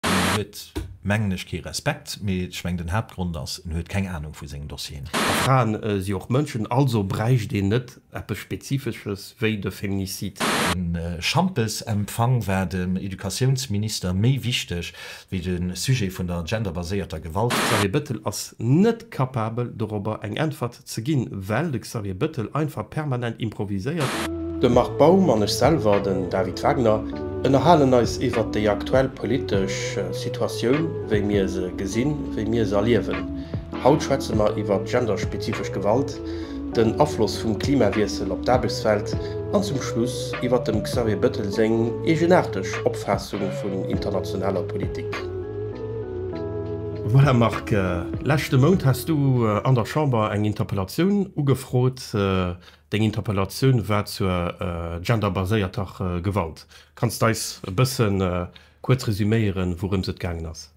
En huet, mengen ech, kee Respekt, mee ech mengen, den Haaptgrond ass, en huet keng Anung vu sengen Dossieren. A Fraen si och Mënschen, also bräicht een net eppes Spezifesches wéi de Feminicide. De Schampesempfang war dem Educatiounsminister méi wichteg wéi de Sujet vun der genderbaséierter Gewalt. Xavier Bettel ass net capabel, dorobber eng Äntwert ze ginn, well de Xavier Bettel einfach permanent improviséiert. De Marc Baum an ech selwer, den David Wagner, ënnerhalen eis iwwert déi aktuell politesch Situatioun, wéi mir se gesinn, wéi mir se erliewen. Haut schwätze mer iwwer genderspezifesch Gewalt, den Afloss vum Klimawiessel op d'Aarbechtswelt an zum Schluss iwwer dem Xavier Bettel seng eegenaarteg Opfaassung vun internationaler Politik. Voilà Marc, leschte Mount has du an der Chamber eng Interpellatioun ugefrot. Deng Interpellatioun war zur genderbaséierter Gewalt. Kanns d'eis e bësse kuerz resuméieren, wourëms et gaangen ass?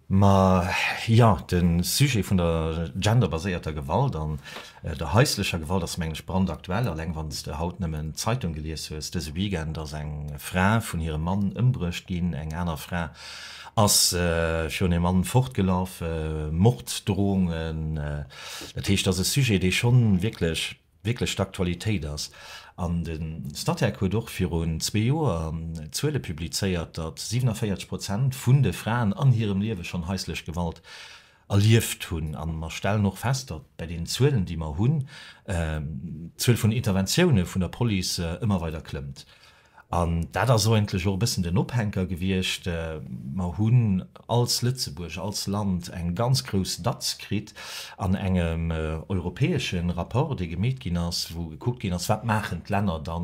Ma jo, de Sujet vun der genderbaséierter Gewalt an Der haislecher Gewalt ass mengen ech brandaktuell, alleng wann s de haut nëmmen d'Zeitung gelies hues. Dëse Weekend ass eng Fra vun hirem Mann ëmbruecht ginn, eng aner Fra ass virun hirem Mann fortgelaf, Morddrohungen. Dat heescht, et ass e Sujet, dee schonn wierklech, wierklech d'Aktualitéit ass. An de Statec huet och virun zwee Joer Zuele publizéiert, datt 47 Prozent vun de Fraen an hirem Liewe schonn haislech Gewalt erlieft hunn. A mer stellen och fest, datt bei deenen Zuelen, déi mer hunn, d'Zuel vun Interventioune vun der Police ëmmer weider klëmmt. An dat ass eigentlech och e bëssen den Ophänker gewiescht. Mer hunn als Lëtzebuerg, als Land eng ganz grouss Datz kritt an engem europäesche Rapport, dee gemeet ginn ass, wou gekuckt ginn ass, wat maachen d'Länner da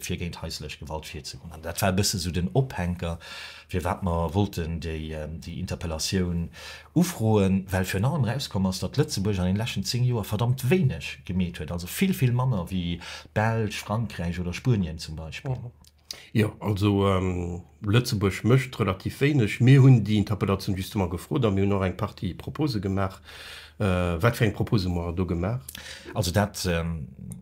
fir géint haislech Gewalt virzegoen. An dat war e bësse sou den Ophänker, Firwat mer wollten déi Interpellatioun ufroen, well virun allem erauskomm ass, datt Lëtzebuerg an deene leschten zéng Joer verdammt wéineg gemeet huet, also vill, vill manner wéi d'Belsch, Frankräich oder Spuenien zum Beispill. Jo, also Lëtzebuerg mécht relativ wéineg. Mir hunn déi Interpellatioun justement gefrot a mir hunn och eng Partie Propose gemaach, Wat fir eng Propose hu mer do gemaach? Also dat,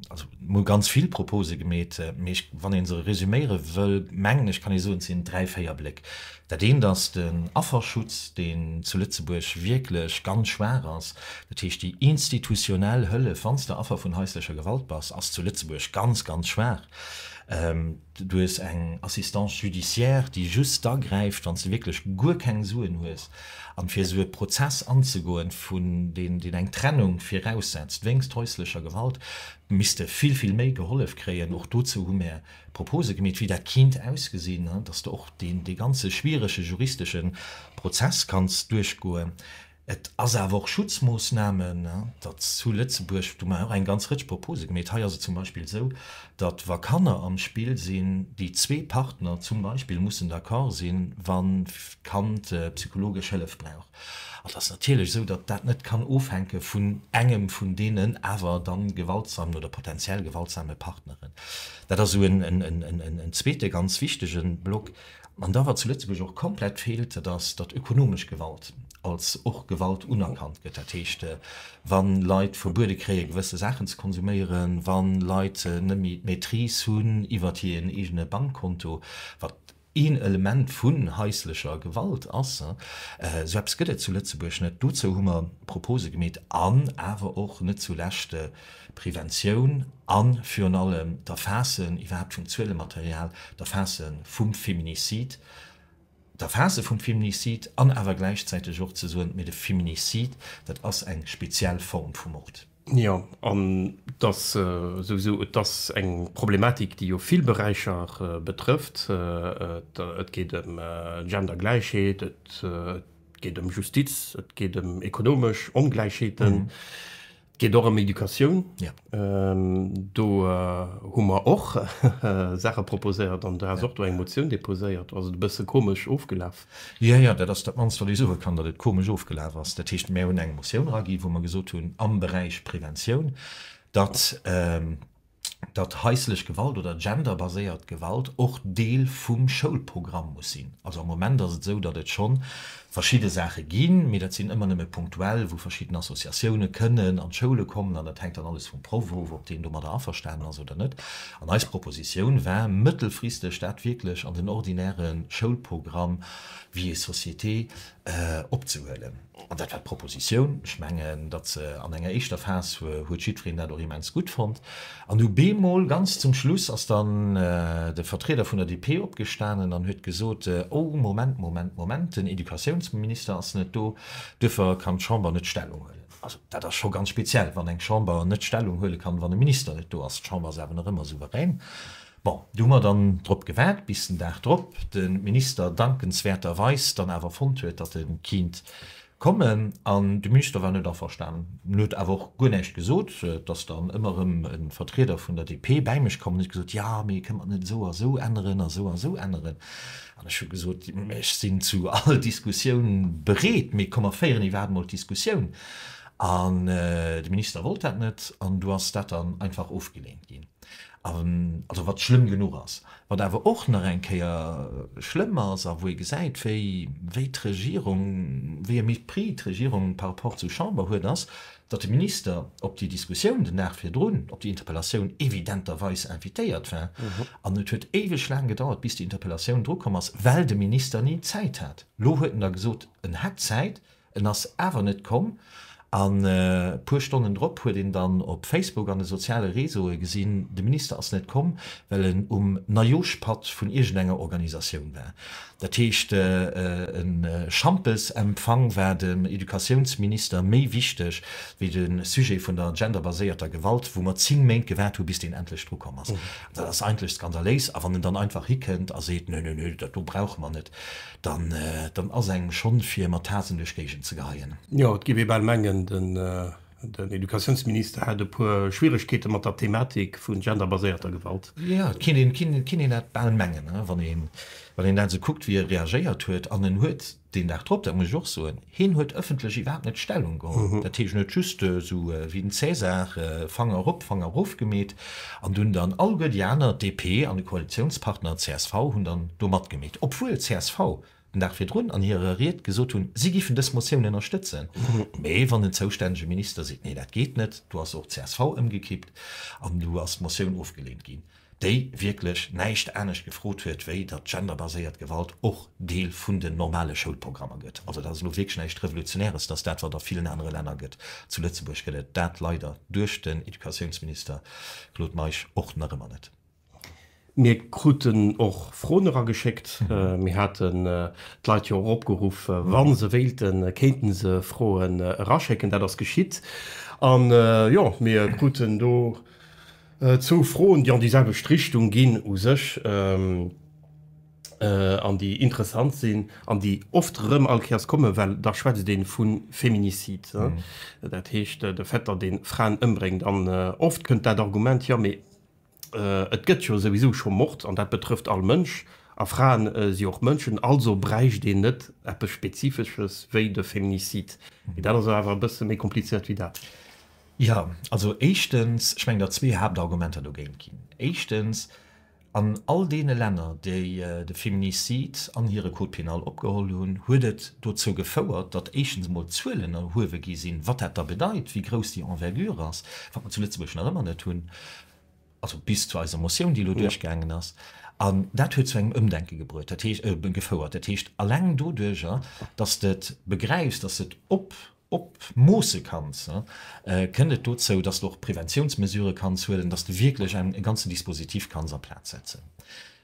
also mer hu ganz vill Propose gemeet, mee ech, wann ee se resuméiere wëll, mengen ech kann ee soen, et sinn dräi, véier Bléck. Dat eent ass den Afferschutz, deen zu Lëtzebuerg wierklech ganz schwaach ass. Dat heescht, déi institutionell Hëllef, wann s de Affer vun haislecher Gewalt bass, ass zu Lëtzebuerg ganz, ganz schwaach. Du hues eng Assistance judiciaire, déi just da gräift, wann s de wierklech guer keng Suen hues. An fir esou e Prozess anzegoen, vun deen, deen eng Trennung viraussetzt wéinst häuslecher Gewalt, misst de vill, vill méi gehollef kréien. Och dozou hu mär Propose gemeet, wéi dat kinnt ausgesinn, dass de och dee ganze schwierege juristesche Prozess kanns duerchgoen. Et ass awer och Schutzmoossnamen, datt zu Lëtzebuerg, do man och eng ganz Rëtsch Propose gemeet. Hei ass et zum Beispill esou, datt wa Kanner am Spill sinn, déi zwee Partner zum Beispill mussen d'accord sinn, wann d'Kand psychologesch Hëllef brauch. An et ass natierlech esou, datt dat net kann ofhänke vun engem vun deenen awer da gewaltsamen oder potentiell gewaltsame Partneren. Dat ass esou en zweete ganz wichtege Block. An da, wat zu Lëtzebuerg och komplett feelt, dat ass, datt ökonomesch Gewalt als och Gewalt unerkannt gëtt. Dat heescht, wa Leit verbuede kréien, gewësse Saachen ze konsuméieren, wa Leit net méi d'Maîtrise hunn iwwert hiren eegene Bankkonto, wat een Element vun haislecher Gewalt ass, esou eppes gëtt et zu Lëtzebuerg net. Dozou hu mer Propose gemeet an awer och net zulescht, Preventioun a virun allem d'Erfaasse iwwerhaapt vum Zuelematerial, d'Erfaasse vum Feminicide, d'Erfaasse vum Feminicide an awer gläichzäiteg och ze soen, mee de Feminicide, dat ass eng speziell Form vu Mord. Jo, an et ass souwisou, et ass eng Problematik, déi jo vill Beräicher betrëfft. Et geet ëm Gendergläichheet, et geet ëm Justiz, et geet ëm ekonomesch Ongläichheeten. Geet och ëm Educatioun. Do hu mer och Saache proposéiert an do has och do eng Motioun deposéiert. Ass et e bësse komesch ofgelaf? Jo, jo, dat ass dat mannst, wat ech soe kann, datt et komesch ofgelaf ass. Dat heescht, mär hunn eng Motioun eragi wou mer gesot hunn am Beräich Preventioun, datt, datt haislech Gewalt oder genderbaséiert Gewalt och Deel vum Schoulprogramm muss sinn. Also am Moment ass et esou, datt et scho verschidde Saache ginn, mee dat sinn ëmmer nëmme punktuell, wou verschidden Associatioune kënnen an d'Schoule kommen an dat hänkt dann alles vum Proff of, ob deen domadder averstanen ass oder net. An eis Propositioun war, mëttelfristeg dat wierklech an den ordinäre Schoulprogramm, vie et société, opzehuelen. An dat war d'Propositioun. Ech mengen, datt se an enger éischter Phas huet jiddwereen dat och immens gutt fonnt. An du bemol ganz zum Schluss ass dann de Vertrieder vun der DP opgestanen an huet gesot, Oh, Moment, Moment, Moment, den Educatiounsminister ass net do, duerfir kann d'Chamber net Stellung huelen. Also dat ass scho ganz speziell, wann eng Chamber net Stellung huele kann, wann e Minister net do ass. D'Chamber ass awer nach ëmmer souverän. Bon, do hu mer dann drop gewaart bis den Dag drop de Minister dankenswäerterweis dann awer fonnt huet, datt e kiint kommen an de Minister war net averstanen. En huet awer och guer näischt gesot. Et ass dann ëmmer erëm e Vertrieder vun der DP bäi mech komm an huet gesot, jo, mee kënnt mer et net esou a esou änneren a esou a esou änneren? An ech hu gesot, ech sinn zu all Diskussioun bereet, mee komm mer féieren iwwerhaapt emol d'Diskussioun. An de Minister wollt dat net an du ass dat dann einfach ofgeleent ginn. also wat schlëmm genuch ass. Wat awer och nach eng Kéier schlëmm ass a wou ee gesäit, wéi, wéi d'Regierung, wéi e Mépris d'Regierung par rapport zur Chamber huet, ass, datt de Minister op déi Diskussioun den Dag virdrun, op déi Interpellatioun evidenterweis invitéiert war. An et huet éiweg laang gedauert, bis déi Interpellatioun drukomm ass, well de Minister ni Zäit hat. Elo huet en da gesot, en hätt Zäit, En ass awer net komm, an e puer Stonnen drop huet een dann op Facebook an de soziale Reseaue gesinn, de Minister ass net komm, well en um Neijooschpatt vun iergendenger Organisatioun war. Dat heescht, e Schampesempfang war dem Educatiounsminister méi wichteg wéi de Sujet vun der genderbaséierter Gewalt, wou mer zéng Méint gewaart hu bis deen endlech dru komm ass. Dat ass eigentlech skandaléis. A wann en dann einfach hikënnt a seet, Nö, nö, nö, dat do brauche mer net. dann ass engem schonn fir mat Haatzen duerch d'Géigend ze geheien. Jo, et géif ee bal mengen, den Educatiounsminister hätt e puer Schwieregkeete mat der Thematik vu genderbaséierter Gewalt. Jo, et kéint een dat bal mengen, wann een dat esou kuckt, wéi e reagéiert huet. An en huet deen Dag drop, dat muss ech och soen, Hien huet ëffentlech iwwerhaapt net Stellung geholl. Dat heescht, en huet just esou wéi den Cäsar Fanger erop, Fanger erof gemeet an dunn dann alleguer déi aner, DP an de Koalitiounspartner csv, hunn dann do matgemeet, obwuel csv den Dag virdrun an hirer Ried gesot hunn, si géifen dës Motioun ënnerstëtzen. Mee wann den zoustännege Minister seet, nee, dat geet net, do ass och csv ëmgekippt an do ass d'Motioun ofgeleent ginn. déi wierklech näischt anescht gefrot huet, wéi datt genderbaséiert Gewalt och Deel vun den normale Schoulprogrammer gëtt. Also dat ass elo wierklech näischt Revolutionäres, dass dat, wat a villen anere Länner gëtt, zu Lëtzebuerg gëtt et dat leider duerch den Educatiounsminister Claude Meisch och nach ëmmer net. Mir kruten och Froen erageschéckt. Mir haten d'Leit jo och opgeruff, wa se wéilten, kéinte se Froen eraschécken. Dat ass geschitt. An jo, mir kruten do Zwou Froen, déi an déi selwecht Richtung ginn u sech an déi interessant sinn an déi oft erëm all Kéiers kommen, well da schwätzt ee vu Feminicide, dat heescht de Vetter, dee Fraen ëmbréngt. An oft kënnt dat Argument, Jo, mee et gëtt jo souwisou scho Mord an dat betrëfft all Mënsch a Fraen si och Mënschen, also bräicht een net eppes Spezifesches wéi de Feminicide. Mee dat ass awer e bësse méi komplizéiert wéi dat. Jo, also éischtens, ech mengen, datt zwee Haaptargumenter dogéint ginn. Éischtens, An all deene Länner, déi de Féminicide an hire Code pénal opgeholl hunn, huet et dozou gefouert, datt éischtens emol d'Zuelen erhuewe gi sinn, wat dat da bedeit, wéi grouss déi Envergure ass, wat mer zu Lëtzebuerg nach ëmmer net hunn, also bis zu eiser Motioun, déi elo duerchgaangen ass. An dat huet zu engem Ëmdenke gebruet, dat heescht, gefouert. Dat heescht, eleng doduerjer, datt s de et begräifs, datt s de et op, Op moosse kanns, kënnt et dozou, dass de och Preventiounsmesurë kanns huelen, dass de wierklech e ganzen Dispositif kanns a Plaz setzen.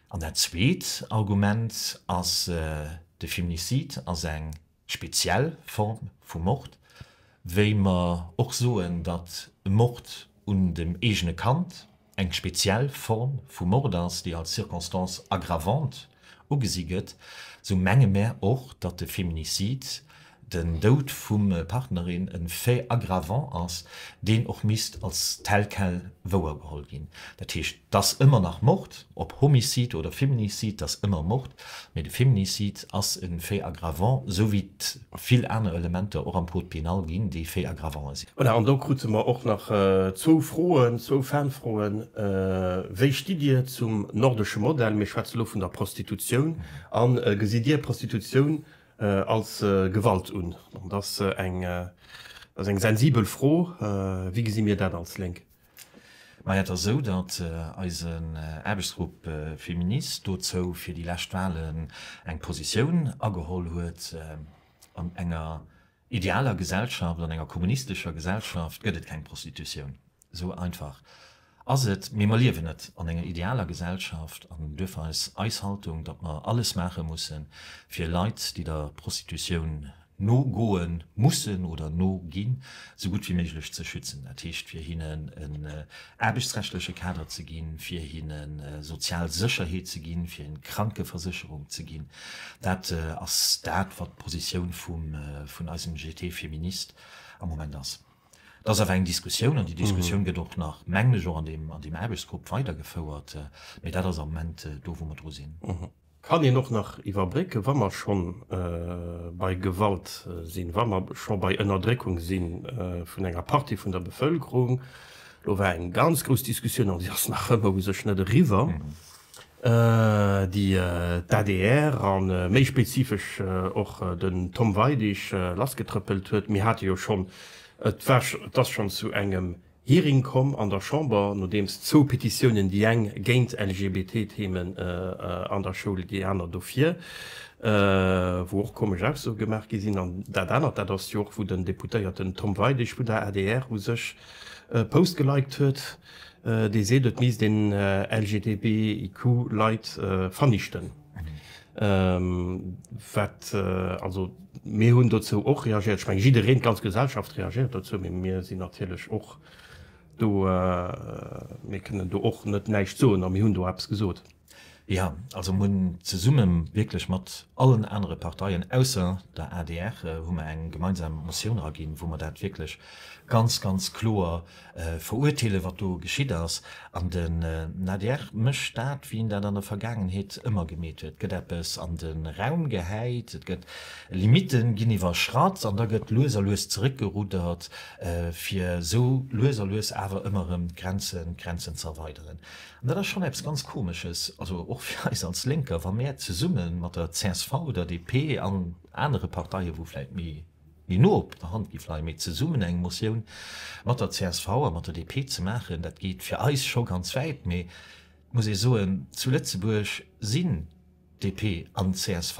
An dat zweet Argument ass, De Feminicide ass eng speziell Form vu Mord, wéi mer och soen, datt e Mord un dem eegene Kand Eng speziell Form vu Mord ass, déi als circonstance aggravante ugesi gëtt, sou menge mär och, datt de Feminicide, den Doud vum Partnerin, e Fait aggravant ass, deen och misst als tel quel wouergeholl ginn. Dat heescht, 't ass ëmmer nach Mord, ob Homicide oder Feminicide, 't ass ëmmer Mord, mee de Feminicide ass e Fait aggravant, sou wéi vill aner Elementer och am Code pénal ginn, déi fait aggravant sinn. Voilà, an do krute mer och nach zwou Froen, zwou Fanfroen, Wéi stitt Dir zum nordesche Modell, mir schwätzen elo vun der Prostitutioun, a gesitt Dir Prostitutioun als Gewalt un? Dat ass eng sensibel Fro. Wéi gesi mir dat als Lénk? Maja, et ass esou, datt eisen Aarbechtsgrupp Féministes dozou fir déi lescht Wahlen eng Positioun ageholl huet. An enger idealer Gesellschaft, an enger kommunistescher Gesellschaft gëtt et keng Prostitutioun. Esou einfach ass et. Mee mer liewen net an enger idealer Gesellschaft an duerfir ass eis Haltung, datt mer alles maache mussen, fir Leit, déi der Prostitutioun nogoen mussen oder noginn, esou gutt wéi méiglech ze schützen, dat heescht fir hinnen en aarbechtsrechtleche Kader ze ginn, fir hinne sozial Sécherheet ze ginn, fir hinne Krankeversécherung ze ginn. Dat ass dat, wat d'Positioun vun eisem GT Feministe am Moment ass. Et ass awer eng Diskussioun an déi Diskussioun gëtt och nach, mengen ech, och an deem Aarbechtsgrupp weidergefouert, mee dat ass am Moment do, wou mer dru sinn. Kann een och nach iwwerbrécken, wa mer scho bei Gewalt sinn, wa mer scho bei Ënnerdréckung si vun enger Partie vun der Bevëlkerung. Do war eng ganz grouss Diskussioun, an déi ass nach ëmmer u sech net eriwwer, déi d'ADR a méi spezifesch och den Tom Weidig lassgetrëppelt huet. Mir hate jo schonn, et ass schonn zu engem Hearing komm an der Chamber, nodeems zwou Petitiounen, déi eng géint LGBT-Themen an der Schoul, déi aner dofir, wou och komesch Aussoe gemaach gi sinn. An dat anert, dat ass jo och, wou den Deputéierten Tom Weidig vun der adr u sech e Post geliked huet, dee seet, et misst een LGTBIQ-Leit vernichten. Wat, also mir hunn dozou och reagiert, ech menge jiddereen, d'ganz Gesellschaft reagiert dozou, mee mir sinn natierlech och do, mir kënnen do och net näischt soen a mir hunn do eppes gesot. Jo, also mir hunn zesumme wierklech mat allen anere Parteien ausser der adr hu mer eng gemeinsam Motioun eraginn, wou mer dat wierklech ganz, ganz kloer Verurteelen, wat do geschitt ass. An den adr mécht dat, wéi en dat an der Vergaangenheet ëmmer gemeet huet, et gëtt eppes an de Raum gehäit, et gëtt Limitte ginn iwwerschratt an da gëtt lues a lues zeréckgeruddert, fir esou lues a lues awer ëmmer erëm d'Grenzen ze erweideren. An dat ass schonn eppes ganz Komesches, also och fir eis als Lénker, wa mär zesumme mat der csv, der DP an anere Parteien, wou vläicht méi Déi no op der Hand géif leien, mee zesummen eng Motioun mat der csv a mat der DP ze maachen, dat geet fir eis scho ganz wäit. Mee et muss ee soen, zu Lëtzebuerg sinn DP an csv,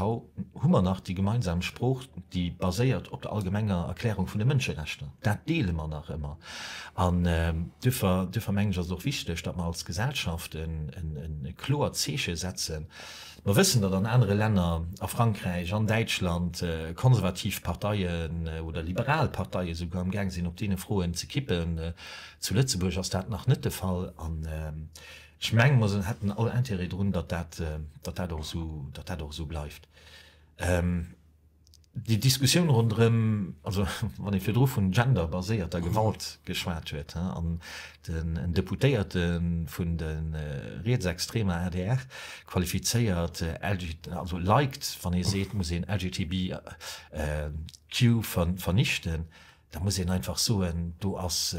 hu mer nach déi gemeinsam Sprooch, déi baséiert op der allgemenger Erklärung vun de Mënscherechter. Dat deele mer nach ëmmer. An duerfir mengen ech, ass et och wichteg, datt mer als Gesellschaft e kloert Zeeche setzen, Mer wëssen, datt an anere Länner, a Frankräich, an Däitschland, konservativ Parteien oder liberal Parteien esouguer am gaang sinn op deene Froen ze kippen. Zu Lëtzebuerg ass dat nach net de Fall, an ech mengen, mer hätten all Intérêt drun, datt dat och esou bleift. Déi Diskussioun ronderëm, also wann ee virdru vun genderbaséierter Gewalt geschwat huet, an den Deputéierte vun de rietsextremer adr qualifizéiert, also liked, wann ee seet, et muss een LGTBIQ vernichten, da muss een einfach soen, do ass,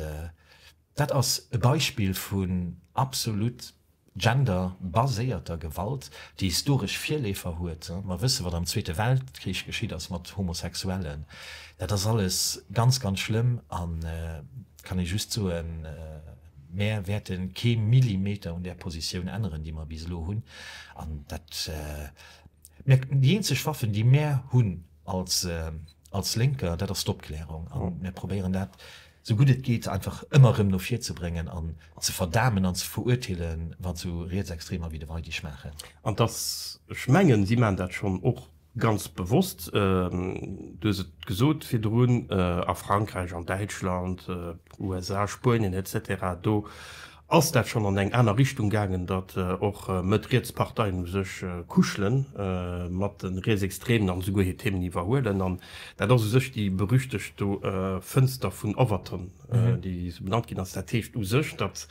Dat ass e Beispill vun absolut genderbaséierter Gewalt, déi historesch Virleefer huet. Mer wësse wat am Zweete Weltkrich geschitt ass mat Homosexuellen. Dat ass alles ganz, ganz schlëmm an kann ee just soen, Mär wäerte kee Millimeter un där Positioun änneren, déi mer bis elo hunn. An dat mierkt een, déi eenzeg Waffen, déi mär hunn als Lénker, dat ass d'Opklärung. A mir probéieren dat. sou gutt et geet, einfach ëmmer erëm no vir ze bréngen an ze verdamen an ze verurteele wat sou Rietsextremer wéi de Weidich maachen. An dass, ech mengen, si maachen dat schonn och ganz bewosst, du hues et gesot virdrun, a Frankräich, an Däitschland, USA, Spuenien, et cetera do, Ass dat schonn an eng aner Richtung gaangen, datt och Mëtt-Riets-Parteien u sech kuschele mat de Rietsextreemen an esouguer hir Themen iwwerhuelen? An dat ass u sech déi berüchtegt do Fënster vun Overton, déi esou benannt ginn ass. Dat heescht u sech, datt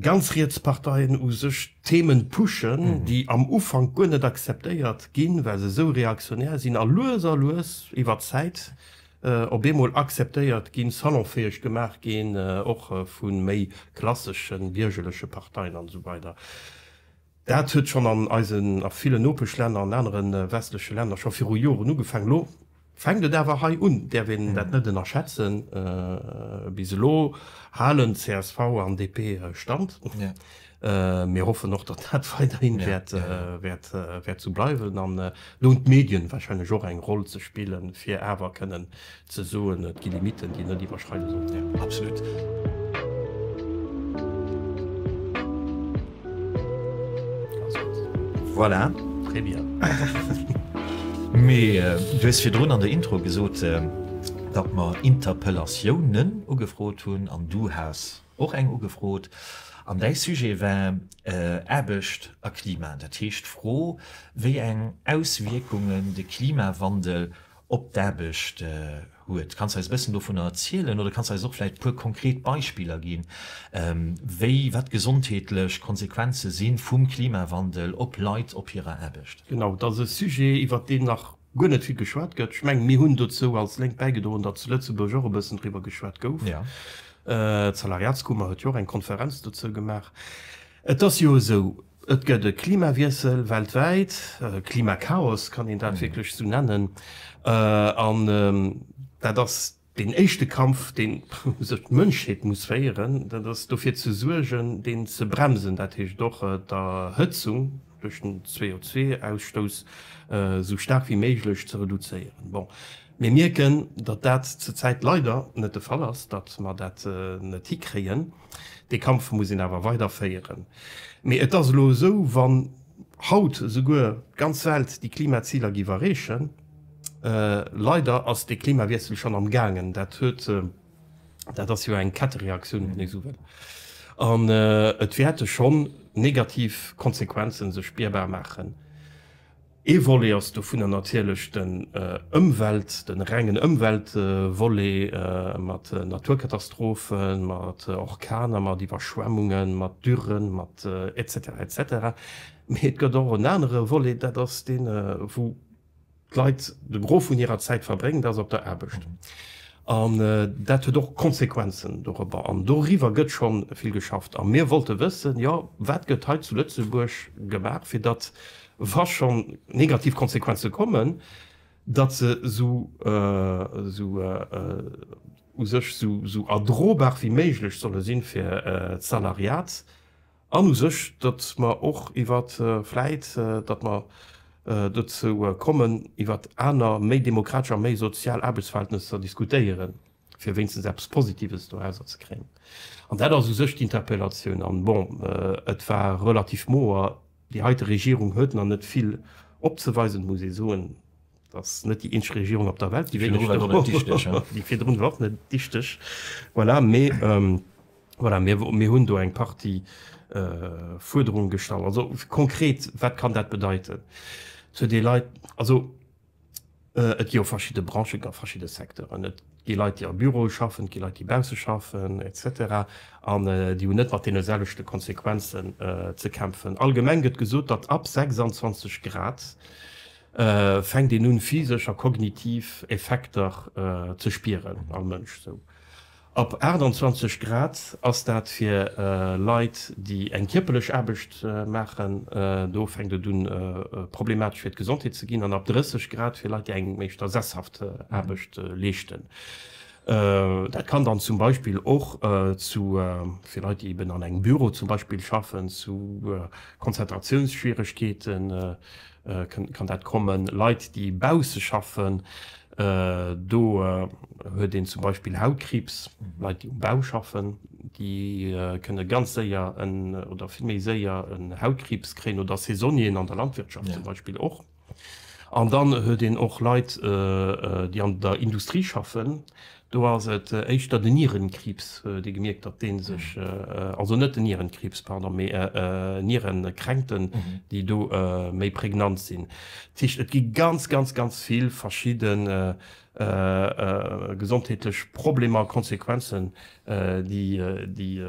ganz riets Parteien u sech Themen pushen, déi am Ufank guer net akzeptéiert ginn, well se esou reaktionär sinn, a lues a lues iwwer d'Zäit op eemol akzeptéiert ginn, salonfäeg gemaach ginn, och vu méi klassesche biergerleche Parteien an esou weider. Dat huet schonn an eisen, a villen Nopeschlänner, an anere westleche Länner scho viru Joren ugefaangen. Elo fänkt et awer hei un, däerf een dat net ënnerschätzen. Bis elo halen csv an DP Stand. Mir hoffen och, datt dat weiderhin wäert sou bleiwen. An elo hunn d'Medien wahrscheinlech och eng Roll ze spillen, fir awer kënnen ze soen, et gi Limiten, déi net iwwerschreide sollen. Absolut. Voilà. Très bien. Mee du hues virdrun an der Intro gesot, datt mer Interpellatiounen ugefrot hunn an du has Och eng ugefrot. An däi Sujet war Aarbecht a Klima. Dat heescht d'Fro, wéi eng Auswierkungen de Klimawandel op d'Aarbecht huet. Kanns eis e bëssen dovunner erzielen oder kanns eis och vläicht e puer konkret Beispiller ginn, wéi, wat gesondheetlech Konsequenze si vum Klimawandel op Leit op hirer Aarbecht? Genau, dat ass e Sujet, iwwert deen nach guer net vill geschwat gëtt. Ech mengen, mir hunn dozou als Lénk bäigedroen, datt zu Lëtzebuerg och e bëssen driwwer geschwat gouf. D'Salariatskummer huet jo och eng Konferenz dozou gemaach. Et ass jo esou, et gëtt e Klimawiessel weltwäit, e Klimakaos kann een dat wierklech esou nennen, an dat ass Deen éischte Kampf, deen esou d'Mënschheet muss féieren, dat ass dofir ze suergen, deen ze bremsen, dat heescht och d'Erhëtzung duerch den CO2-Ausstouss esou staark wéi méiglech ze reduzéieren. Bon, mir mierken, datt dat zur Zäit leider net de Fall ass, datt mer dat net hikréien. Dee Kampf muss een awer weider féieren. Mee et ass elo esou, wann haut esouguer d'ganz Welt déi Klimaziler giff erreechen, Leider ass dee Klimawiessel schonn am gaangen. Dat huet, dat ass jo eng Kettereaktioun, wann ee esou wëll. An et wäerte schonn negativ Konsequenzen sech spierbar maachen. Ee Volet ass dovunner natierlech den Ëmwelt, den rengen Ëmweltvolet, mat Naturkatastrophen, mat Orkaner, mat Iwwerschwemmungen, mat Dürren, mat et cetera et cetera. Mee et gëtt och en anere Volet, dat ass dee wou, d'Leit de Gros vun hirer Zäit verbréngt, ass op der Aarbecht. An dat huet och Konsequenzen dorobber. An doriwwer gëtt scho vill geschafft. A mir wollte wëssen, jo wat gëtt hei zu Lëtzebuerg gemaach, fir datt, wa schonn negativ Konsequenze kommen, datt se esou u sech esou erdrobar wéi méiglech solle sinn fir d'Salariat. An u sech, datt mer och iwwert vläit, datt mer dozou kommen, iwwert aner méi demokratesch a méi sozial Aarbechtsverhältnesser diskutéieren, fir wéinstens eppes Positives dorausser ze kréien. An dat ass u sech d'Interpellatioun. An bon, et war relativ moer. Déi heite Regierung huet nach net vill opzeweisen, muss ee soen. Ass net déi eenzeg Regierung op der Welt, déi virdrun war och net dichteg. Voilà, mee voilà, mir hunn do eng Partie Fuerderunge gestallt. Also konkret, wat kann dat bedeiten? Zu de Leit, also et gi jo verschidde Branchen, a verschidde Secteuren. Et gi Leit, déi a Büroe schaffen, et gi Leit, déi bausse schaffen et cetera an déi hunn net mat deene selwechte Konsequenzen ze kämpfen. Allgemeng gëtt gesot, datt ab 26 Grad fänkt een un physesch a kognitiv Effekter ze spieren am Mënsch. Sou ab 28 Grad ass dat fir Leit déi eng kierperlech Aarbecht maachen, do fänkt et un problematesch fir d'Gesondheet ze ginn, an ab 30 Grad fir Leit déi eng éischter sesshaft Aarbecht leeschten. Dat kann dann zum Beispill och zu, fir Leit déi eben an engem Büro zum Beispill schaffen, zu Konzentratiounsschwieregkeete. Kann dat kommen? Leit déi bausse schaffen, do huet een zum Beispill Hautkriibs. Leit déi um Bau schaffen, déi kënne ganz séier en, oder vill méi séier en Hautkriibs kréien, oder Saisonnieren an der Landwirtschaft zum Beispill och. An dann huet een och Leit déi an der Industrie schaffen, Do ass et éischter den Nierenkriibs, dee gemierkt, datt dee sech, also net den Nierenkriibs, pardon, mee Nierenkränkten, déi do méi pregnant sinn. Dat heescht, et gi ganz, ganz, ganz vill verschidde gesondheetlech Problemer, Konsequenzen, déi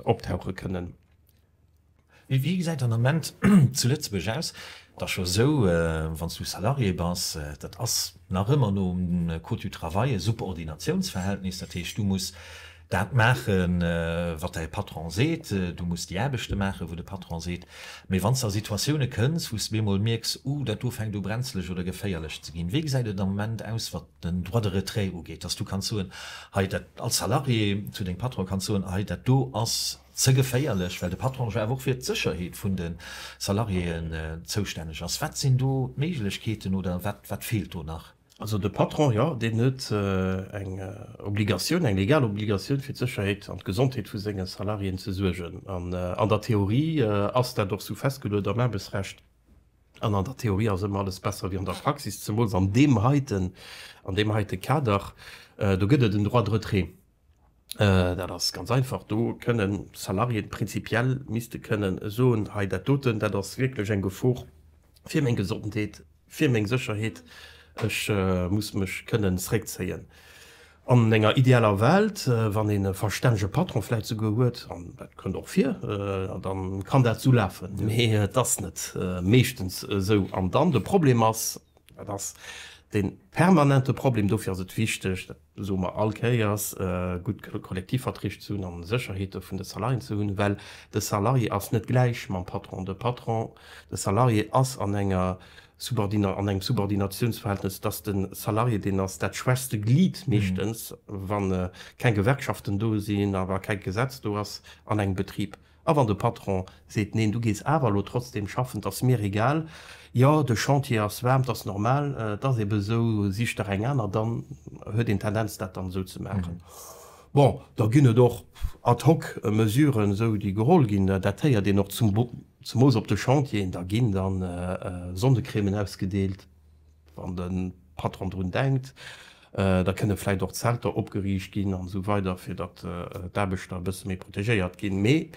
optauche kënnen. Wéi gesäit den Ament zu Lëtzebuerg aus? Et ass scho esou, wann s du Salarié bass, dat ass nach ëmmer nom Code du travail e Subordinatiounsverhältnis. Dat heescht, du muss dat maache wat däi Patron seet, du muss déi Aarbechte maache wou de Patron seet. Mee wann s de a Situatioune kënns, wou s de bemol mierks, uh, dat do fänkt u brenzlech oder geféierlech ze ginn. Wéi gesäit et am Ament aus wat den Droit de retrait ugeet, dass du kanns soen, hei dat, als Salarié zu dengem Patron kanns soen, hei dat do ass Ze geféierlech, well de Patron jo awer och fir d'Sécherheet vun de Salariéeën zoustänneg ass. Wat sinn do d'Méiglechkeeten oder wat feelt do nach? Also de Patron, jo, deen huet eng Obligatioun, eng legal Obligatioun, fir d'Sécherheet an d'Gesondheet vu senge Salariéeën ze suergen. An an der Theorie ass dat och esou festgeluet am Aarbechtsrecht. An an der Theorie ass ëmmer alles besser wéi an der Praxis, zemools an deem heiten, an deem heite Kader. Do gëtt et en Droit de retrait. Dat ass ganz einfach, do kënnen d'Salariéen prinzipiell misste kënnen soen, hei dat doten, dat ass wierklech eng Gefor fir meng Gesondheet, fir meng Sécherheet, ech muss mech kënnen zréckzéien. An enger idealer Welt, wann een e verstännege Patron vläicht souguer huet, an dat kënnt och vir, da kann dat esou lafen. Mee et ass net meeschtens esou. An dann de Problem ass, dat ass dee permanente Problem, dofir ass et wichteg, Do soe mer all Kéiers, gutt Kollektivverträg ze hunn an d'Sécherheete vun de Salariéen ze hunn, well de Salarié ass net gläich mam Patron. De Patron, de Salarié ass an enger, an engem Subordinatiounsverhältnes. Et ass de Salarié, deen ass dat schwächste Glied meeschtens, wa keng Gewerkschaften do sinn a wa kee Gesetz do ass an engem Betrib. A wann de Patron seet, Neen, du gees awer elo trotzdem schaffen, 't ass mir egal, jo, de Chantier ass waarm, 't ass normal, 't ass eben esou, sich der eng aner, dann huet een d'Tendenz, dat dann esou ze maachen. Bon, da ginn et och ad hoc Mesuren, esou, déi geholl ginn. Dat héiert een och, zemoos op de Chantieren, da ginn dann Sonnecrèmen ausgedeelt. Wann de Patron drun denkt, da kënne vläicht och Zelter opgeriicht ginn an esou weider, fir datt d'Aarbechter e bësse méi protegéiert ginn. Mee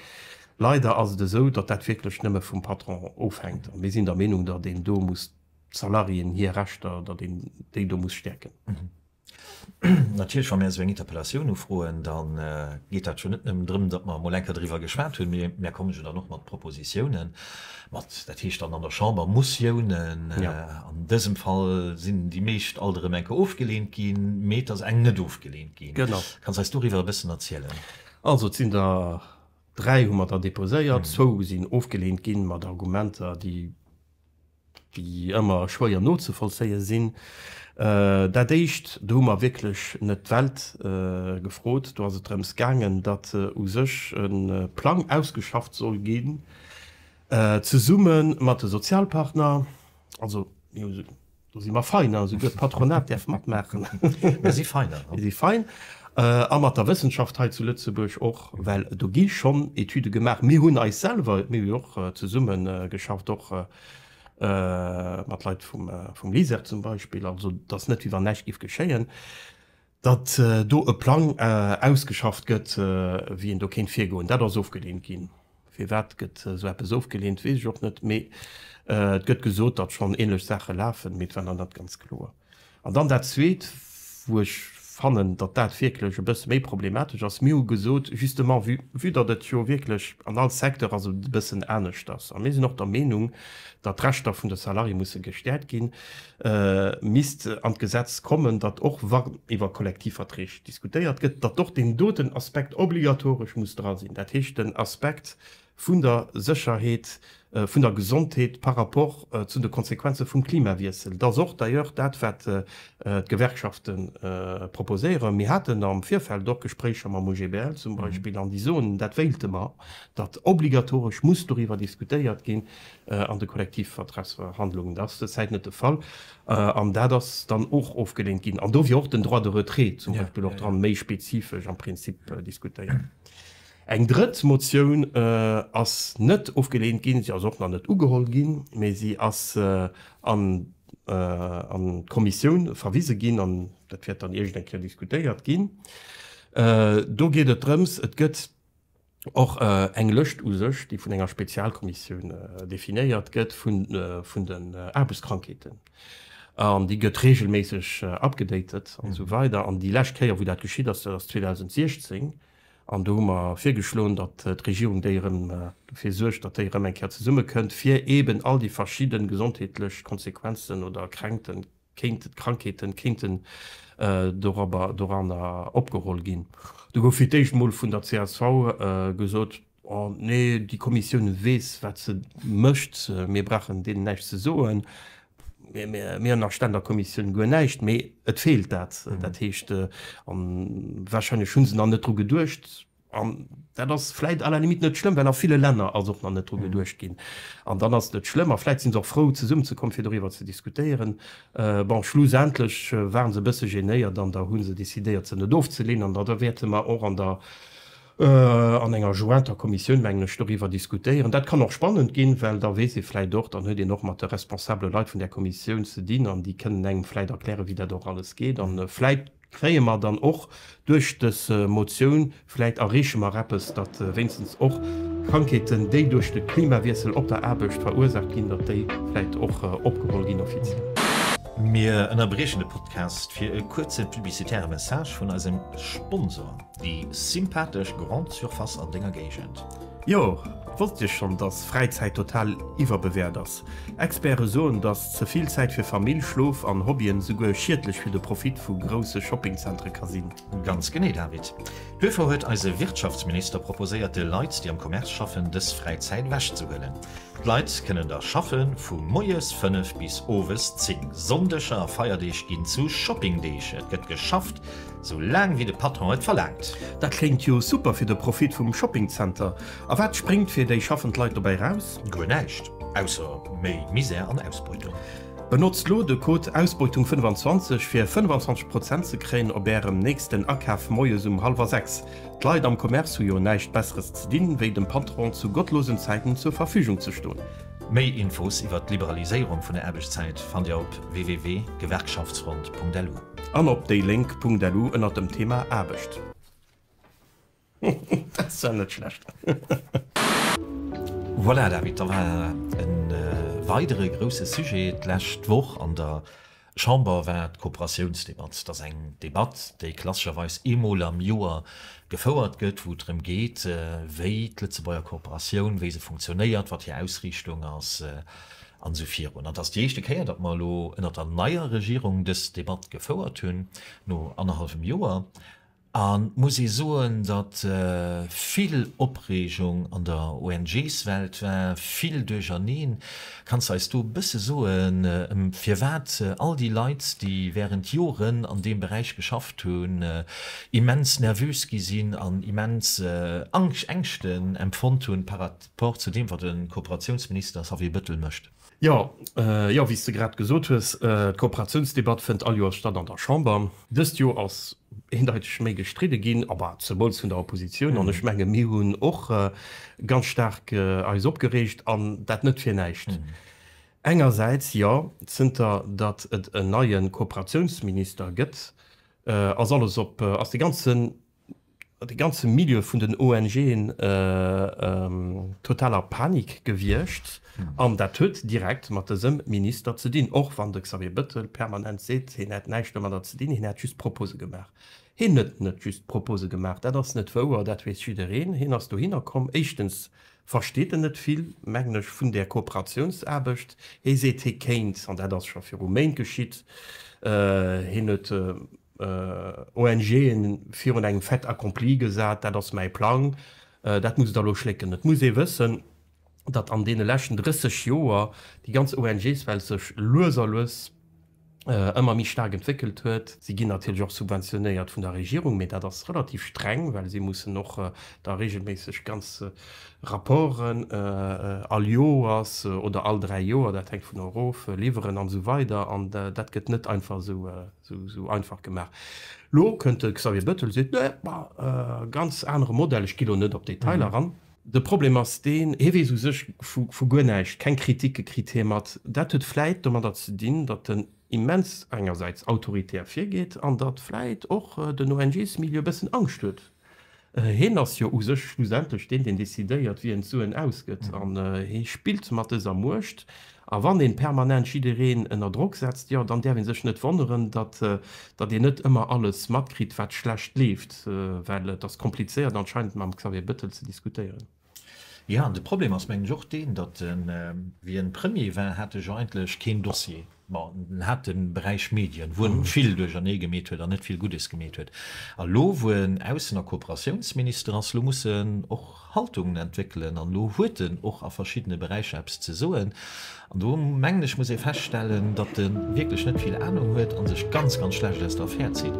leider ass et esou, datt dat wierklech nëmme vum Patron ofhänkt. A mir sinn der Meenung, datt een do muss d'Salariéen hir Rechter, datt een déi do muss stäerken. Natierlech, wa mir esou eng Interpellatioun ufroen, da geet dat jo net nëmmen drëm, datt mer emol enker driwwer geschwat hunn, mee mir komme jo dann och mat Propositiounen, mat, dat heescht dann an der Chamber, Motiounen. An dësem Fall sinn déi meescht alt erëm enker ofgeleent ginn, mee et ass eng net ofgeleent ginn. Kanns eis doriwwer e bëssen erzielen? Also, et sinn der dräi hu mer der deposéiert. Zwou sinn ofgeleent gi mat Argumenter, déi déi ëmmer schwéier nozevollzéie sinn, dat éischt, do hu mer wierklech net d'Welt gefrot, do ass et drëms gaangen, datt u sech e Plang ausgeschafft soll ginn, zesumme mat de Sozialpartner, also mir hu Do si mer fein, hein, souguer d'Patronat däerf matmaachen. Mir si fein, hein. Mir si fein. A mat der Wëssenschaft hei zu Lëtzebuerg och, well do gi schonn Etüde gemaach. Mir hunn eis selwer, mir hu jo och zesumme geschafft, och mat Leit vum LISER zum Beispill. Also, et ass net, wéi wann näischt géif geschéien. Datt do e Plang ausgeschafft gëtt, wéi een do kéint virgoen, dat ass ofgeleent ginn. Firwat gëtt esou eppes ofgeleent, weess ech och net, mee et gëtt gesot, datt schonn änlech Saache lafen, mee et war nach net ganz kloer. An dann dat Zweet, wou ech fannen, datt dat wierklech e bësse méi problematesch ass, Mir hu gesot, justement vue, vue datt et jo wierklech an all Secteur ass et e bëssen aneschters a mir sinn och der Meenung, datt d'Rechter vun de Salarié musse gestäerkt ginn, misst an d'Gesetz kommen, datt och wann iwwer Kollektivverträg diskutéiert gëtt, datt och deen doten Aspekt obligatoresch muss dra sinn, dat heescht den Aspekt vun der Sécherheet, vun der Gesondheet par rapport zu de Konsequenze vum Klimawiessel. Et ass och d'ailleurs dat, wat d'Gewerkschafte proposéieren. Mir haten am Virfeld och Gespréicher mam OGBL zum Beispill an déi soen, dat wéilte mer, datt obligatoresch muss doriwwer diskutéiert ginn, an de Kollektivvertragsverhandlungen. Dat ass derzäit net de Fall an dat ass dann och ofgelehnt ginn an do wier och den Droit de retrait zum Beispill och dran, méi spezifesch am Prinzip diskutéiert. Eng drëtt Motioun ass net ofgelehnt ginn, si ass och nach net ugeholl ginn, mee si ass an d'Kommissioun verwise ginn an dat wäert dann iergendeng Kéier diskutéiert ginn. Do geet et drëms, et gëtt. Och eng Lëscht u sech, déi vun enger Spezialkommissioun definéiert gëtt, vun den Aarbechtskrankheeten. An déi gëtt reegelméisseg upgedatet an esou weider. An déi lescht Kéier, wou dat geschitt ass, dat ass 2016. An do hu mer virgeschloen, datt d'Regierung déi erëm dofir suergt, datt déi erëm eng Kéier zesummekënnt, fir eeben all déi verschidde gesondheetlech Konsequenzen oder Kränkten kéinten d'Krankheeten kéinten doranner opgeholl ginn. Do gouf fir d'éischt emol vun der csv gesot, oh nee, déi Kommissioun weess wat se mécht, mir brauchen deenen näischt ze soen, mir hunn a Ständerkommissioun guer näischt, mee et feelt dat. Dat heescht, a wahrscheinlech hu se nach net dru geduecht, An dat ass vläit à la limite net schlëmm, well a ville Länner ass och nach net dru geduecht ginn. An dann ass et net schlëmm a vläit si se och frou, zesumme ze kommen, fir doriwwer ze diskutéieren. Bon, schlussendlech ware se e bësse genéiert an da hu se decidéiert, se net ofzeleen. An da wäerte mer och an der, an enger jointer Kommissioun, mengen ech, doriwwer diskutéieren. Dat kann och spannend ginn, well da weess ee vläit och, dann huet een och mat de responsabele Leit vun där Kommissioun ze dinn an déi kënnen engem vläit erklären, wéi dat och alles geet. An vläit. Kréie mer dann och duerch des Motioun, vläit erreeche mer eppes, datt wéinstens och Krankheeten, déi duerch de Klimawiessel op der Aarbecht verursaacht ginn, datt déi vläit och opgeholl ginn offiziell? Mir ënnerbriechen de Podcast fir e kuerze publicitäre Message vun eisem Sponsor. Déi sympathesch Grande Surface an denger Géigend. Jo, wosst Dir schonn, dass Fräizäit total iwwerbewäert ass? Experte soen, dass ze vill Zäit fir Famill, Schlof an Hobbyen souguer schiedlech fir de Profit vu grousse Shoppingzentere ka sinn. Ganz genee, David. Duerfir huet eise Wirtschaftsminister proposéiert, de Leit, déi am Commerce schaffen, dës Fräizäit ewechzehuelen. D'Leit kënnen da schaffen, vu moies 5 bis owes 10. Sonndeger a Feierdeeg ginn zu Shoppingdeeg, et gëtt geschafft. Sou laang wéi de Patron et verlaangt. Dat kléngt jo super fir de Profit vum Shopping Center. A wat spréngt fir déi schaffend Leit dobäi raus? Guer näischt, ausser méi Misär an Ausbeutung. Benotzt lo de Code Ausbeutung 25 fir 25 Prozent ze kréien op ärem nächsten Akaf moies um hallwer 6. D'Leit am Commerce hu jo näischt besseres ze dinn, wéi dem Patron zu gottlosen Zäiten zur Verfügung ze stoen. Méi Infos iwwert d'Liberaliséierung vun der Aarbechtszäit fannt Dir op www.gewerkschaftsfront.lu. An op déilénk.lu ënnert dem Thema Aarbecht. Voilà, David, da war e weidere grousse Sujet d'lescht Woch an der Chamber, war d'Kooperatiounsdebatt. Dat ass eng Debatt, déi klassescherweis eemol am Joer gefouert gëtt, wou et drëm geet, wéi d'Lëtzebuerger Kooperatioun, wéi se funktionéiert, wat hir Ausriichtung ass. an esou virun. An et ass déi éischte Kéier, datt mer elo ënnert der neier Regierung dës Debatt gefouert hunn, no annerhallwem Joer. An et muss ee soen, datt vill Opreegung an der ONGs-Welt war, vill Duercherneen. Kanns de eis do e bësse soen, firwat all déi Leit, déi während Joren an deem Beräich geschafft hunn, immens nervös gi sinn an immens Ängschten empfonnt hunn par rapport zu deem, wat de Kooperatiounsminister Xavier Bettel mécht. Jo, jo, wéi s de grad gesot hues, d'Kooperatiounsdebatt fënnt all Joers statt an der Chamber. Dëst Joer ass eendeiteg méi gestridde ginn, aber zemools vun der Oppositioun. An ech menge mir hunn och ganz staark eis opgereegt, an dat net fir näischt. Engersäits, jo, zënter datt et en neie Kooperatiounsminister gëtt, ass alles op, ass de ganze de ganze Milieu vun den ONGen total a Panik gewiescht an dat huet direkt mat dësem Minister ze dinn, och wann de Xavier Bettel permanent seet, hien hätt näischt domadder ze dinn, hien hätt just Propose gemaach. Hien huet net just Propose gemaach, dat ass net wouer, dat weess jiddereen. Hien ass dohinner komm, éischtens versteet en net vill, mengen ech, vun där Kooperatiounsaarbecht. Hie seet, hie kéint, an dat ass scho viru Méint geschitt, hien huet. ONGen virun engem Fait accompli gesat, dat ass mäi Plang, dat muss et elo schlécken. Et muss ee wëssen, datt an deene leschten 30 Joer déi ganz ONGswelt sech lues a lues ëmmer méi staark entwéckelt huet. Si ginn natierlech och subventionéiert vun der Regierung, mee dat ass relativ streng, well si mussen och da reegelméisseg ganz Rapporten all Joers oder all dräi Joer, dat hänkt vun erof, liwweren an esou weider. An dat gëtt net einfach esou Sou einfach gemaach. Lo kënnt de Xavier Bettel a seet, nee, ma ganz anere Modell, ech gi lo net op d'Detailer eran. De Problem ass deen, hie weess u sech vu guer näischt, keng Kriticke kritt hie mat. Dat huet vläit domadder ze dinn, datt en immens engersäits autoritär virgeet an datt vläit och den ONGs-Milieu e bëssen Angscht huet. Heen ass jo u sech schlussendlech deen, deen decidéiert, wien d'Suen ausgëtt. An hee spillt mat dëser Muecht. A wann ee permanent jiddereen ënner Drock setzt, jo, dann däerf ee sech net wonneren, datt een net ëmmer alles matkritt, wat schlecht leeft. Well et ass komplizéiert anscheinend mam Xavier Bettel ze diskutéieren. Jo, an de Problem ass, mengen ech, och deen, datt wéi e Premier war, hat ech eigentlech keen Dossier. Bon, en hat de Beräich Medien, wou en vill duerchernee gemeet huet an net vill Guddes gemeet huet. A elo, wou en Aussen a Kooperatiounsminister ass, elo muss en och Haltungen entwéckelen an elo huet en och a verschiddene Beräicher eppes ze soen. An do, mengen ech, muss ee feststellen, datt e wierklech net vill Anung huet a sech ganz, ganz schlecht aus der Affär zitt.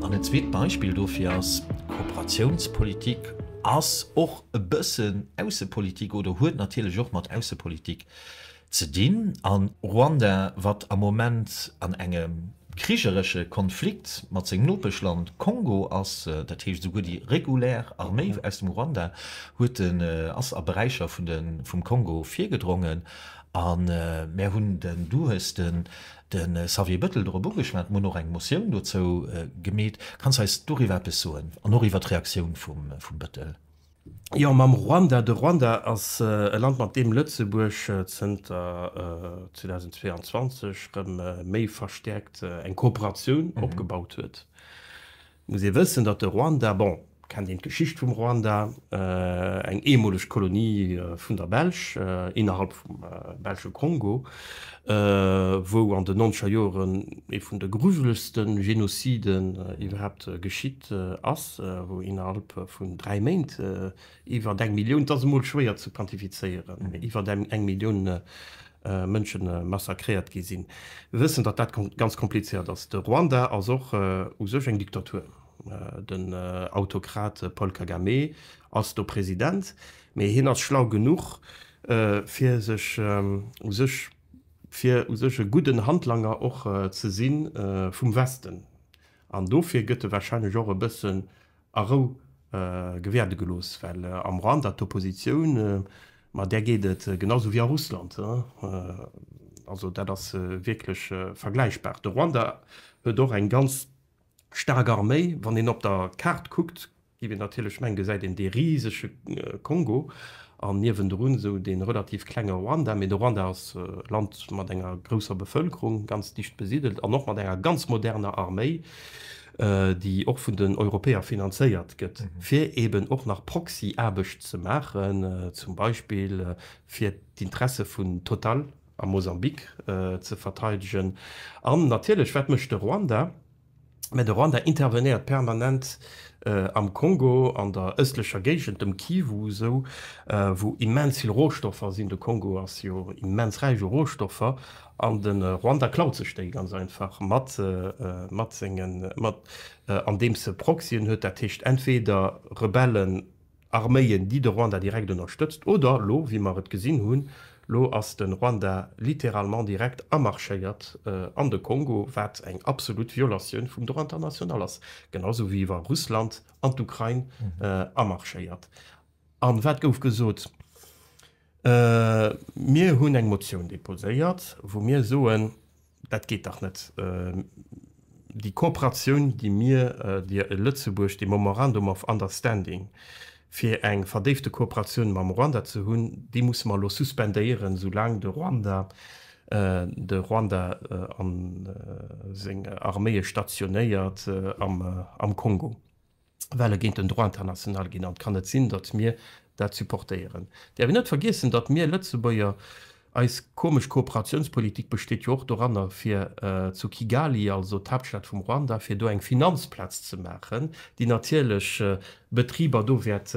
An en zweet Beispill dofir ass, Kooperatiounspolitik ass och e bëssen Aussepolitik oder huet natierlech och mat Aussepolitik Ze dinn a Ruanda, wat am Moment an engem krigeresche Konflikt mat sengem Nopeschland Kongo ass, dat heescht esouguer déi regulär Arméi aus dem Ruanda huet den ass a Beräicher vun de vum Kongo virgedrongen. A mär hunn den, du hues den de Xavier Bettel dorop ugeschwat, mir hunn och eng Motioun dozou gemeet. Kanns eis doriwwer eppes soen an och iwwer d'Reaktioun vum vum Bettel? Jo, mam Ruanda. De Ruanda ass e Land, mat deem Lëtzebuerg zënter 2022 rëm méi verstäerkt eng Kooperatioun opgebaut huet. Et muss ee wëssen, datt de Ruanda, bon, kennt een d'Geschicht vum Ruanda, eng eemoleg Kolonie vun der Belsch innerhalb vum belsche Kongo, wou an den nonzeger Joren ee vun de grujelegste Genoziden iwwerhaapt geschitt ass, wou innerhalb vun dräi Méint iwwert eng Millioun, et ass emol schwéier ze quantifizéieren, mee iwwert eng Millioun Mënsche massakréiert gi sinn. Mir wëssen, datt dat ganz komplizéiert ass. De Ruanda ass och u sech eng Diktatur. Den Autokrat Paul Kagame ass do President, mee hien ass schlau genuch, fir sech u sech fir u sech e gudden Handlanger och ze si vum Westen, an dofir gëtt e warscheinlech och e bëssen a Rou gewäerde gelooss, well am Rwanda d'Oppositioun, ma där geet et genau sou wéi a Russland, also dat ass wierklech vergläichbar. De Rwanda huet och eng ganz staark Arméi, wann een op der Kaart kuckt, Déi mir natierlech mengen, gesäit een dee risege Kongo an niewendrun esou dee relativ klenge Ruanda. Mee de Ruanda ass e Land mat enger grousser Bevëlkerung, ganz dicht besidelt an och mat enger ganz moderner Arméi, déi och vun den Europäer finanzéiert gëtt, fir eeben och nach Proxy-Aarbecht ze maachen, zum Beispill fir d'Interesse vun Total a Mosambik ze verteidegen. An natierlech, wat mécht de Ruanda? Mä de Rwanda intervenéiert permanent am Kongo, an der ëstlecher Géigend, dem Kivu sou, wou immens vill Rohstoffer sinn. De Kongo ass jo immens räich u Rohstoffer, an de Rwanda klaut sech déi ganz einfach mat, mat sengen, mat, andeems e Proxyen huet, dat heescht entweder Rebellen, Arméien, déi de Ruanda direkt ënnerstëtzt, oder elo, wéi mer et gesinn hunn, elo ass de Ruanda littéralement direkt amarschéiert an de Kongo, wat eng absolut Violatioun vum Droit international ass, genau esou wéi wa Russland an d'Ukrain amarschéiert. A wat gouf gesot? Mir hunn eng Motioun deposéiert, wou mir soen, Dat geet dach net, déi Kooperatioun, déi mir Dir e Lëtzebuerg, dee Memorandum of Understanding fir eng verdéifte Kooperatioun mam Ruanda ze hunn, dee musse mer elo suspendéieren, soulaang de Ruanda de Ruanda a seng Arméie stationéiert am Kongo. well e géint den Droit international ginn an et kann net sinn, datt mir dat supportéieren. Däerf een net vergiessen, datt mir Lëtzebuerger, eis komesch Kooperatiounspolitik besteet jo och doranner, fir zu Kigali, also d'Haaptstad vum Ruanda, fir do eng Finanzplaz ze maachen, déi natierlech Betriber do wäert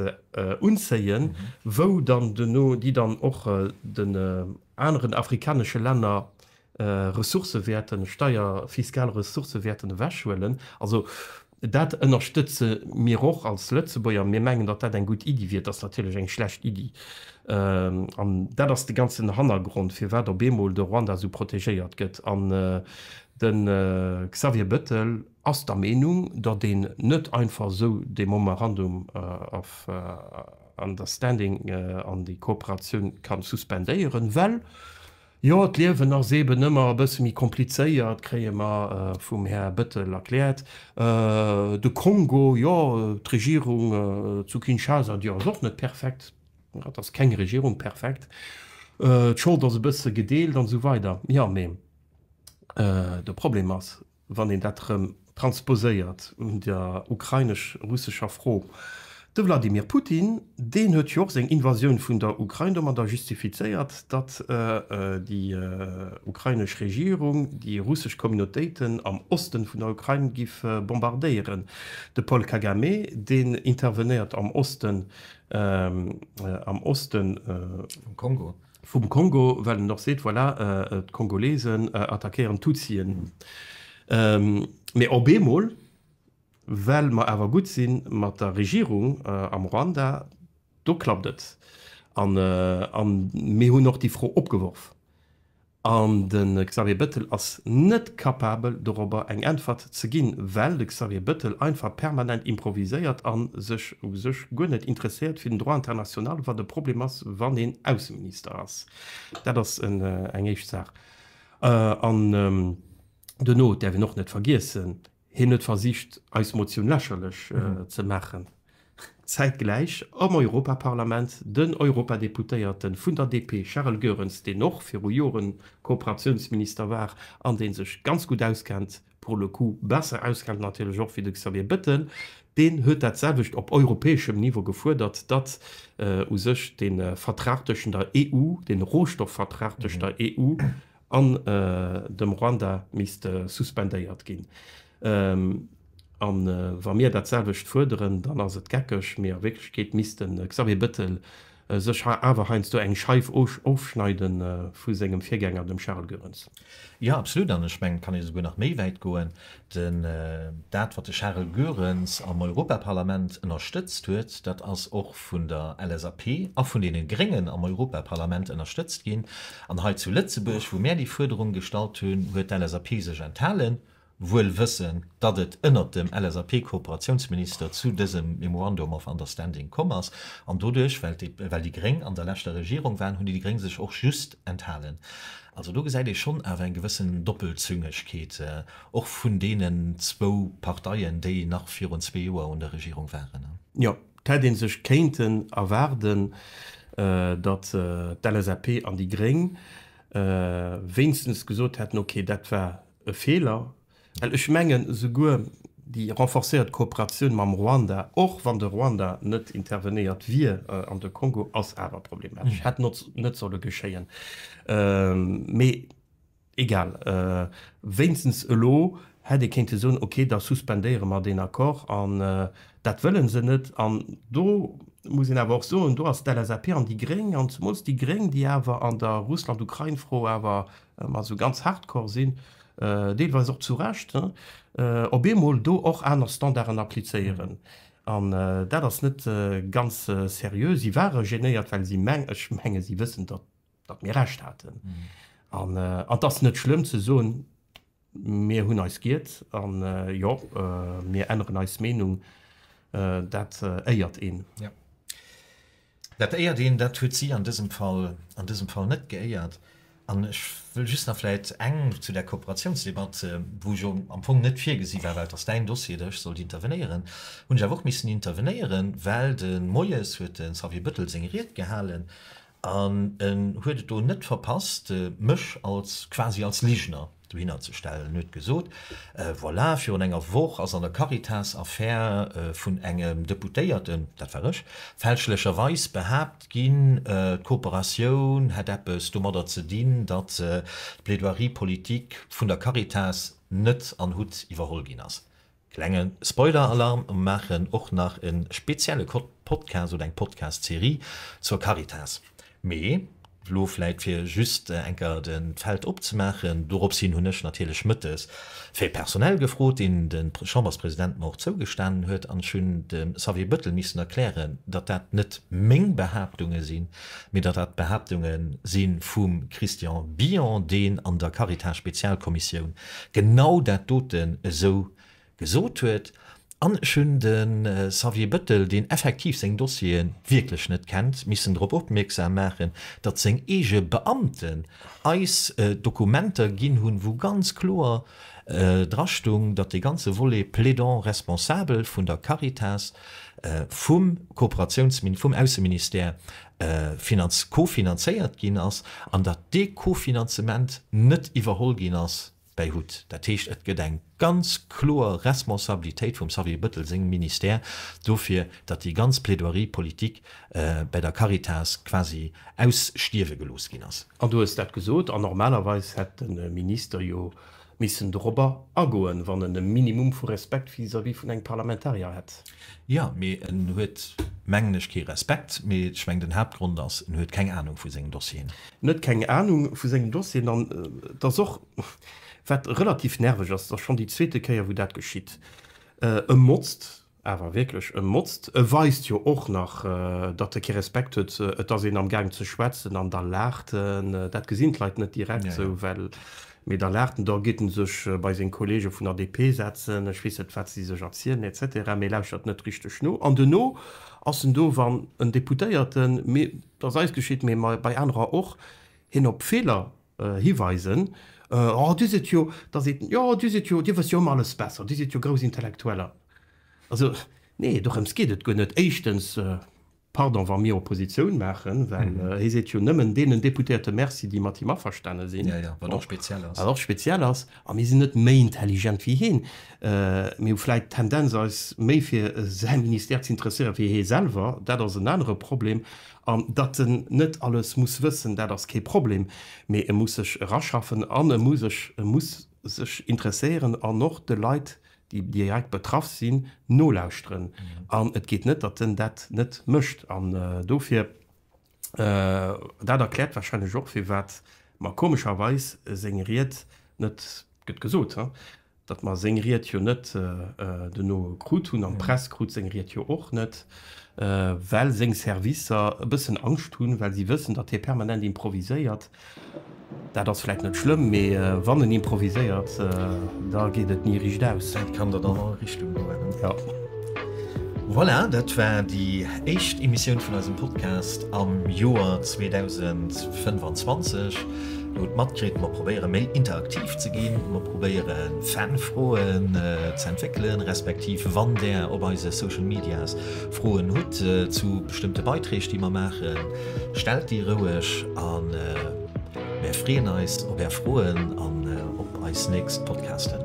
unzéien, wou dann duerno déi dann och den aneren afrikanesche Länner Ressourcë wäerten, Steier-, fiskal Ressourcë wäerten ewechhuelen. Also dat ënnerstëtze mir och als Lëtzebuerger. Mir mengen, datt dat eng gutt Iddi wier. Et ass natierlech eng schlecht Iddi. An dat ass de ganzen Hannergrond, firwat op eemol de Ruanda esou protegéiert gëtt. An de Xavier Bettel ass der Meenung, datt een net einfach esou dee Momerandum of Understanding an déi Kooperatioun ka suspendéieren, well, Jo, d'Liewen ass eeben ëmmer e bësse méi komplizéiert, kréie mer vum Här Bëttel erkläert. De Kongo, jo, d'Regierung zu Kinshasa, déi ass och net perfekt, et ass keng Regierung perfekt, d'Schold ass e bësse gedeelt an esou weider. Jo, mee de Problem ass, wann een dat erëm transposéiert un der ukrainesch-russescher Fro, de Wladimir Putin, deen huet jo och seng Invasioun vun der Ukrain domadder justifizéiert, datt déi ukrainesch Regierung déi russesch Communautéiten am Osten vun der Ukrain giff bombardéieren. De Paul Kagame, deen intervenéiert am Osten, am Osten. Vum Kongo. vum Kongo, well en och seet, voilà, d'Kongolesen attackéieren d'Tutsien. Mee op eemol, well mer awer gutt si mat der Regierung am Ruanda, do klappt et. A mir hunn och déi Fro opgeworf. An de Xavier Bettel ass net capabel, dorobber eng Äntwert ze ginn, well de Xavier Bettel einfach permanent improviséiert a sech u sech guer net interesséiert fir den Droit international, wat e Problem ass, wann een Ausseminister ass. Dat ass eng éischt Saach. An duerno däerf een och net vergiessen, hien huet versicht, eis Motioun lächerlech ze maachen. Zäitgläich am Europaparlament den Europadeputéierte vun der DP Charel Goerens, deen och viru Joren Kooperatiounsminister war an dee sech ganz gutt auskennt, pour le coup besser auskennt natierlech och wéi de Xavier Bettel. Deen huet dat selwecht op europäeschem Niveau gefuerdert, datt u sech de Vertrag tëschent der EU, de Rohstoffvertrag tëschent der EU an dem Ruanda misst suspendéiert ginn. A wa mir dat selwecht fuerderen, dann ass et geckeg, mee a Wierklechkeet misst de Xavier Bettel sech awer heiansdo eng Scheif ofschneide vu sengem Virgänger, dem Charles Goerens. Jo, absolut. An ech mengen, et kann ee souguer nach méi wäit goen. Dat, wat de Charel Goerens am Europaparlament ënnerstëtzt huet, dat ass och vun der LSAP a vun deene Gréngen am Europaparlament ënnerstëtzt ginn. An hei zu Lëtzebuerg, wou mär déi Fuerderung gestallt hunn, huet d'LSAP sech enthalen. wuel wëssen, datt et ënnert dem LSAP-Kooperatiounsminister zu dësem Memorandum of Understanding komm ass. An doduerch, well déi Gréng an der leschter Regierung waren, hunn déi Gréng sech och just enthalen. Also do gesäit ee schonn awer eng gewëssen Doppelzüngegkeet och vun deenen zwou Parteien, déi nach virun zwee Joer un der Regierung waren. Jo, et hätt ee sech kéinten erwaarden, datt d'LSAP an déi Gréng wéinstens gesot hätten, okay, dat war E Feeler, well ech mengen, esouguer déi renforcéiert Kooperatioun mam Ruanda, och wann de Ruanda net intervenéiert wier an de Kongo, ass awer problematesch, hätt net solle geschéien. Mee egal, wéinstens elo hätt ee kéinte soen, okay, da suspendéiere mer deen Accord. An dat wëlle se net. An do muss een awer och soen, do ass d'LSAP an déi Gréng, an zemools déi Gréng, déi awer an der Russland-Ukrain-Fro awer Mat esou ganz hardcore sinn, deelweis och zu Recht, op eemol do och aner Standarden applizéieren. An dat ass net ganz seriö. Si ware genéiert, well si, ech menge si wëssen, datt mir Recht haten. An et ass net schlëmm ze soen, Mir hunn eis giert an jo, mir änneren eis Meenung. Dat éiert een. Jo, dat éiert een. Dat huet si an dësem Fall, an dësem Fall net geéiert. An ech wëll just nach vläicht eng zu där Kooperatiounsdebatt, wou ech jo am Fong net virgesi war, well et ass Däin Dossier, datt ech sollt intervenéieren, hunn ech awer och missen intervenéieren, well de Moies huet de Xavier Bettel seng Ried gehalen An en huet et do net verpasst, mech als, quasi als Ligener dohinnerzestellen. En huet gesot, Voilà, virun enger Woch ass an der Caritas-Affär vun engem Deputéierten, dat war ech, fälschlecherweis behaapt ginn, d'Kooperatioun hätt eppes domadder ze dinn, datt d'Plaidoirie politique vun der Caritas net an Hutt iwwerholl ginn ass. Klenge Spoiler-Alarm, mer maachen och nach e spezielle Podcast oder eng Podcast-Serie zur Caritas. Mee elo vläit fir just enker d'Feld opzemaachen, dorops hin hunn ech natierlech mëttes fir Personal gefrot, deen de Chamberspresident mer och zougestanen huet, an ech hunn dem Xavier Bettel missen erklären, datt dat net meng Behaaptunge sinn, mee datt dat Behaaptunge si vum Christian Billon, deen an der Caritas-Spezialkommissioun genau dat doten esou gesot huet. An ech hunn de Xavier Bettel, deen effektiv seng Dossiere wierklech net kennt, missen drop opmierksam maachen, datt seng eege Beamten eis Dokumenter ginn hunn, wou ganz kloer dra stoung, datt dee ganze Volet Plaidant responsable vun der Caritas vum Kooperatiounsmin-, vum Ausseministère finanz-, co-finanzéiert ginn ass an datt dee Kofinanzement net iwwerholl ginn ass bäi hut. Dat heescht, et gëtt eng ganz kloer Responsabilitéit vum Xavier Bettel sengem Ministère dofir, datt déi ganz Plaidoirie politique bäi der Caritas quasi ausstierwe gelooss ginn ass. An du hues dat gesot, an normalerweis hätt de Minister jo missen dorobber agoen, wann en e Minimum vu Respekt vis-à-vis vun engem Parlamentarier hätt. Jo, mee en huet, mengen ech, kee Respekt, mee ech mengen, den Haaptgrond ass, en huet keng Anung vu sengem Dossier. En huet keng Anung vu sengem Dossier an et ass och, wat relativ nerveg ass, et ass schonn déi zweete Kéier, wou dat geschitt, e motzt. Awer wierklech e Motzt. E weist jo och nach, datt e kee Respekt huet. Et ass een amgaang ze schwätzen an da laacht en. Dat gesinn d'Leit net direkt esou, well, mee da laacht en. Da geet en sech bei seng Kollege vun der DP setzen, ech weess net, wat si sech erzielen et cetera, mee lauschtert net richteg no. An duerno ass en do, wann en Deputéierten, mee et ass eis geschitt, mee bei anerer och, hien op Feeler Hiweisen, Oh, Dir sidd jo, da seet en, Jo, Dir sidd jo, Dir wësst jo ëmmer alles besser, Dir sidd jo grouss Intellektueller. Also, nee, dorëms geet et guer net. Éischtens, Pardon, wa mir Oppositioun maachen, well hie seet jo nëmmen deenen Deputéierte Merci, déi mat him averstane sinn, wat och speziell ass, a mir sinn net méi intelligent wéi hien. Mir hu vläicht d'Tendenz, eis méi fir säi Ministère z'interesséieren, wéi hie selwer, dat ass en anere Problem. An datt en net alles muss wëssen, dat ass kee Problem, mee e muss sech eraschaffen an e muss sech e muss sech interesséieren an och de Leit, déi direkt betraff sinn, nolauschteren. An et geet net, datt en dat net mécht. An dofir, dat erkläert warscheinlech och, firwat mer komescherweis seng Ried net gëtt gesot. datt mer seng Ried jo net duerno krut hunn an d'Press krut seng Ried jo och net, well seng Servicer e bëssen Angscht hunn, well si wëssen, datt hie permanent improviséiert. Dat ass vläicht net schlëmm, mee wann en improviséiert, da geet et ni riicht aus. Dat kann dann an all Richtung goen. Jo. Voilà, dat war déi éischt Emissioun vun eisem Podcast am Joer 2025. Lo d'Matkritt, mer probéiere méi interaktiv ze ginn, mer probéiere Fanfroen ze entwéckelen, respektiv wann Där op eise Social Medias Froen hutt zu bestëmmte Beiträg déi mer maachen, stellt déi roueg an mär freeën eis op Är Froen an op eis nächst Podcasten.